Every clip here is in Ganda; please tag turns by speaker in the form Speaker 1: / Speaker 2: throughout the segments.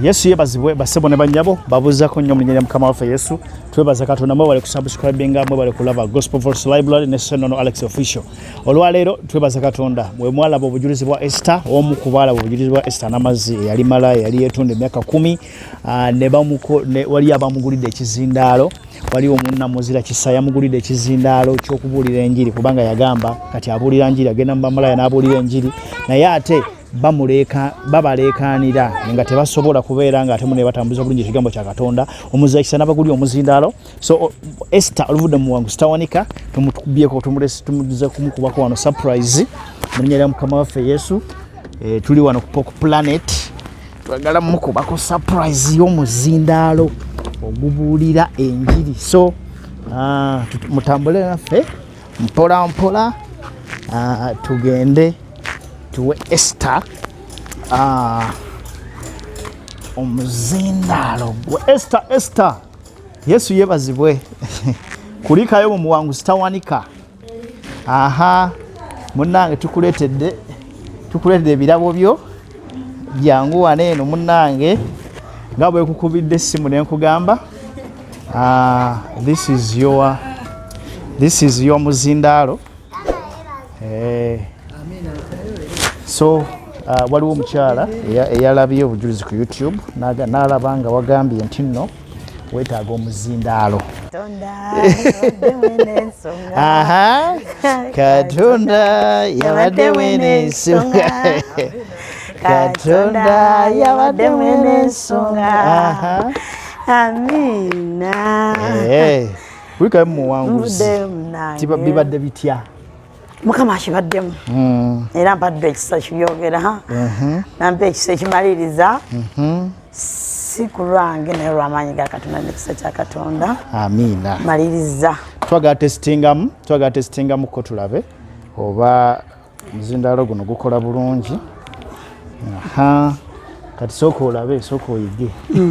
Speaker 1: yesu yebazibwe basebo ne banyabo babuzako nnyo mulinya lya mukama waffe yesu twebaza katonda mwebale kusubscribinga mwebale kulaba gospel voice library ne senono alex official olwaleero twebaza katonda mwemwalaba obujulizi bwa ester omu kubaalaba obujulizi bwa ester namazzi eyali mala eyali yetunda emyaka kumi ah, waliyo abamugulidde ekizindaalo waliwo omunna muzira kisa yamugulidde ekizindaalo kyokubuulira enjiri kubanga yagamba kati abuulira njiri agenda mu bamalaya n'abuulira enjiri naye ate babaleekaanira nga tebasobola kubeera nga ate munebatambuza bulungi ekigambo kya katonda omuzakisa nabaguli omuzindaalo so ester oluvudde muwangu sitawanika tumukubyeko tumuza kumukubako wano surprise mulinya lya mukama waffe yesu e, tuli wano kupok planet twagala mukubako surprise yomuzindaalo ogubuulira enjiri so ah, mutambule naffe mpola mpola uh, tugende tuwe ester uh, omuzindaalo gwe ester ester yesu yebazibwe kulikayo mu muwangu sitawanika aha munange tukuletedde tukuletedde ebirabo byo jangu wano eno munange nga bwekukubidde essimu nenkugamba ah, this is your this is your muzindaalo eh. so ah, waliwo omukyala eyalabye obujulizi ku youtube nalaba nga wagambye nti nno wetaaga omuzindaalo katonda yabadde mwena ensonga katonda yabadde mwena ensonga amina
Speaker 2: eh, kulikayo
Speaker 1: muwanguzi bibadde bitya mukama
Speaker 2: akibaddemu hmm. era mpadde ekisa kibyogera uh-huh. nampa ekisa ekimaliriza uh-huh. si ku lwange naye olwamaanyi ga katonda nekisa kya katonda amiina
Speaker 1: maliriza
Speaker 2: twagala tesitingamu
Speaker 1: twagala tesitingamu ko tulabe oba omuzindalo guno gukola bulungi kati sooka olabe sooka oyige hmm.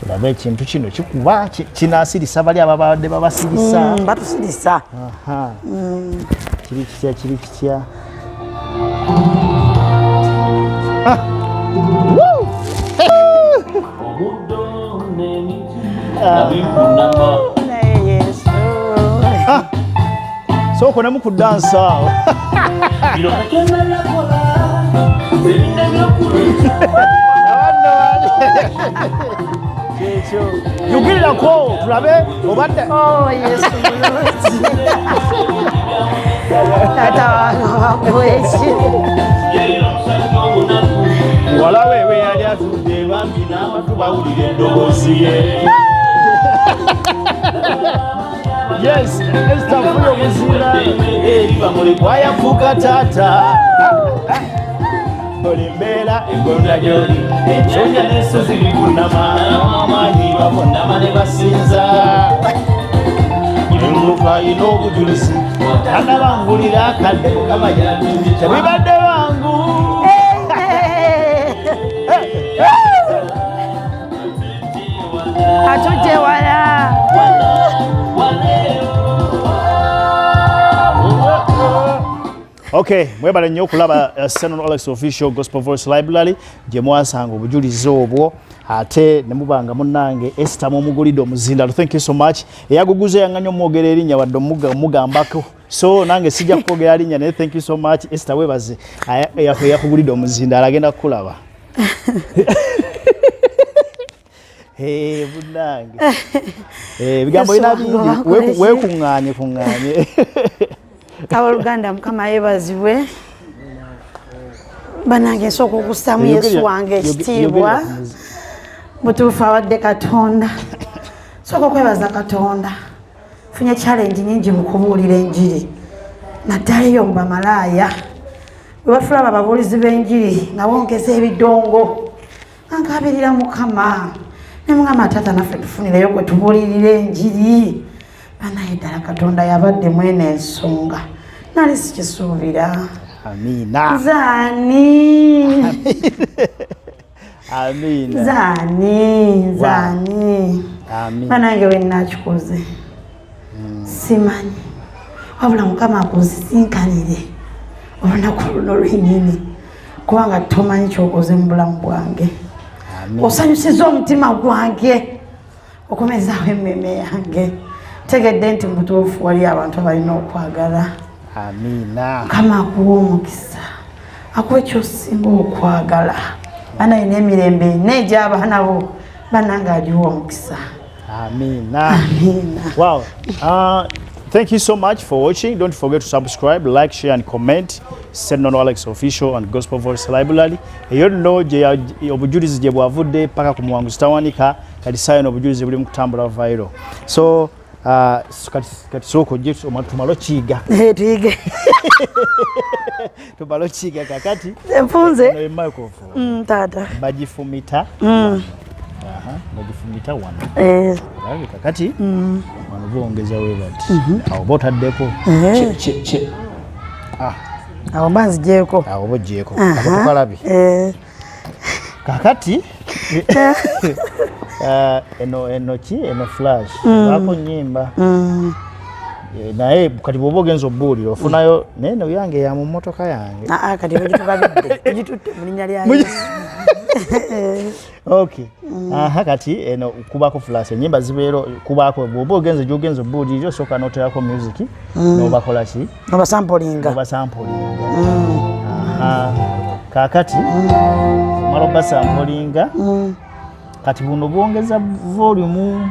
Speaker 1: tulabe ekintu kino kikuba kinasirisa bali ababadde babasirisa mm, batusirisa
Speaker 2: mm. kiri
Speaker 1: kitya kiri kitya ah. ah. soko namu ku dance awo yugirirako tulabe obadde oh, wala wewe yali atudde bambi n'amatu bawulira eddoboozi ye Yes, Esther Fuyo Muzina. Wayafuka tata. Oli mbeera egonda gyoli enjonya n'ensozi bikunama amaanyi bakunama ne basinza enguva ina obujulizi anabangulira akadde mukama yantumye tebibadde bangu
Speaker 2: atujje wala
Speaker 1: Okay, mwebale nnyo okulaba uh, Senon Alex Official Gospel Voice Library gye mwasanga obujulizi obwo ate ne mubanga munnange Esther mumugulidde omuzindalo. Thank you so much. Eyaguguze yanganya omwogera erinnya wadde omugambako so nange sijja kukwogera linnya naye thank you so much Esther webaze eyakugulidde omuzindalo agenda kukulaba. bunange eh, ebigambo bina bingi wekuŋŋaanye kuŋŋaanye
Speaker 2: aboluganda mukama yebazibwe banange nsooka okussamu yesu wange ekitiibwa mutuufu abadde katonda sooka okwebaza katonda funye challenge nyingi mu kubuulira enjiri naddala eyo mu bamalaaya webatulaba ababuulizi b'enjiri nga bongeza ebidongo ankabirira mukama ne mukama taata naffe tufunireyo kwe tubuulirira enjiri banaye ddala katonda yabadde mwene ensonga nali sikisuubira
Speaker 1: amiina nze ani amiina zani zani
Speaker 2: banange
Speaker 1: wenakikoze
Speaker 2: hmm. simanyi wabula mukama akuzisinkanire olunaku luno lwenyini kubanga tomanyi kyokoze mu bulamu bwange osanyusiza omutima gwange okomezaawo emmeeme yange tegedde nti mutuufu wali abantu abalina okwagala amiina
Speaker 1: mukama akuwa
Speaker 2: omukisa akuwa ekyosinga okwagala ana yina emirembe ena egyabaana bo banange agiwa omukisa amiina
Speaker 1: amiina
Speaker 2: wow. uh,
Speaker 1: Thank you so much for watching. Don't forget to subscribe, like, share, and comment. Send on Alex Official and Gospel Voice Library. eyo nno obujulizi gye bwavudde paka ku muwanguzi tawanika kati saayona obujulizi buli mu kutambula vairo so uh, kati sooka ojje tumale okiyiga eh, tuyige tumale okiyiga kakati enfunze mm, taata
Speaker 2: bagifumita
Speaker 1: mm. bagifumita wano eh. kakati mm. wano bongeza webati mhm. awo botaddeko eh. ah.
Speaker 2: awo mba nzigyeko awo oba ogyeko
Speaker 1: abatukalabi eh. kakati eh, eno enoki eno flash mm. ako nyimba mm. eh, naye kati bwoba ogenza obuulira ofunayo naye no yange ya mu motoka yange ah, ah, kati bagitubabidde
Speaker 2: gitutte mu linnya lya yesu
Speaker 1: Okay. Mm. Aha kati eno kubako flash enyimba zibero kubako bwoba ogenze jogenze budi jo soka note yako music mm. no bakola ki no basampolinga
Speaker 2: no basampolinga mm. aha
Speaker 1: kakati mm. maro basampolinga mm. kati buno bwongeza volume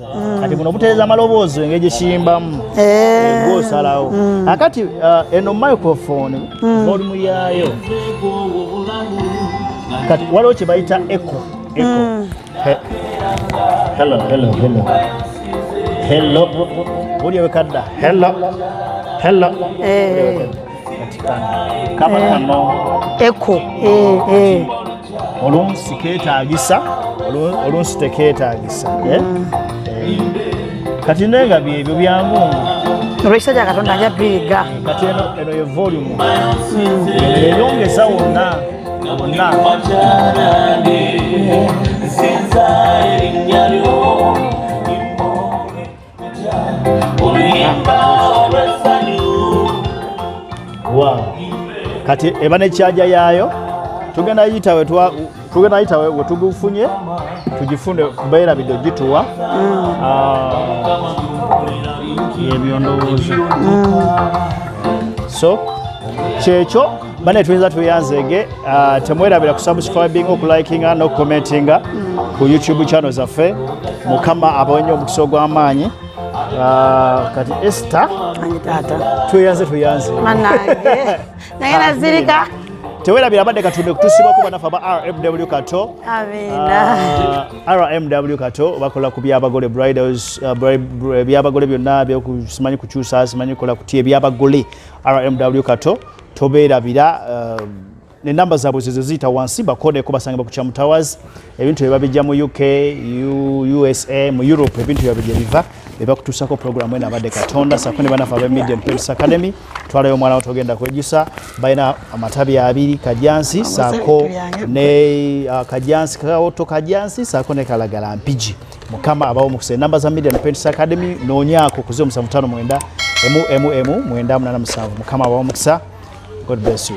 Speaker 1: mm. kati buno butereza amaloboozi engeri gyekiyimbamu eh. gwe osalawo mm. akati uh, eno microphone mm. volumu yaayo kati waliwo kye bayita eco eco hello hello hello hello buli ebikadda hello hello eh. kaba eh. kano eko
Speaker 2: eh, eh.
Speaker 1: olunsi ketagisa olunsi teketagisa mm. kati naye nga byebyo byangu olwekisa kya
Speaker 2: katonda nja biriga kati eno eno ye
Speaker 1: volume mm. eyongeza wonna wonna kati eba ne kyaja yaayo tugenda yita tugenda yita wetugufunye tugifune kubeera bido gituwa mm. ah, ebyondowooza mm. so kyekyo bane tuyinza tweyanzeege ah, temwerabira ku subscribing okulikinga n'okucommentinga mm. ku youtube channel zaffe mukama abawenye omukisa ogw'amaanyi Ah, kati Esther tweyanze tweyanze
Speaker 2: naye nazirika tewerabira abadde
Speaker 1: katonda okutusibako banafe aba rmw kato
Speaker 2: ah, rmw
Speaker 1: kato bakola ku byabagole bridals ah, byabagole byonna byokusimanyi kukyusa simanyi kola kutya ebyabagole rmw kato tobeerabira uh, ne namba zaabwe zezo ziyita wansi bakoneeko basangibwa ku kyamutawazi ebintu bye babijja mu uk usa mu europe ebintu byabwe gye biva ebakutuusako pulogulaamu eno abadde katonda sako ne banafe abe median pels academy twalayo omwana wo togenda kwejusa balina amatabi abiri kajansi sako ne uh, kajansi kawoto kajansi sako ne kalagala mpigi mukama abawo mukisa enamba za media na pentis academy noonyako ku 0759 emu emu emu 987 mukama abawo mukisa god bless you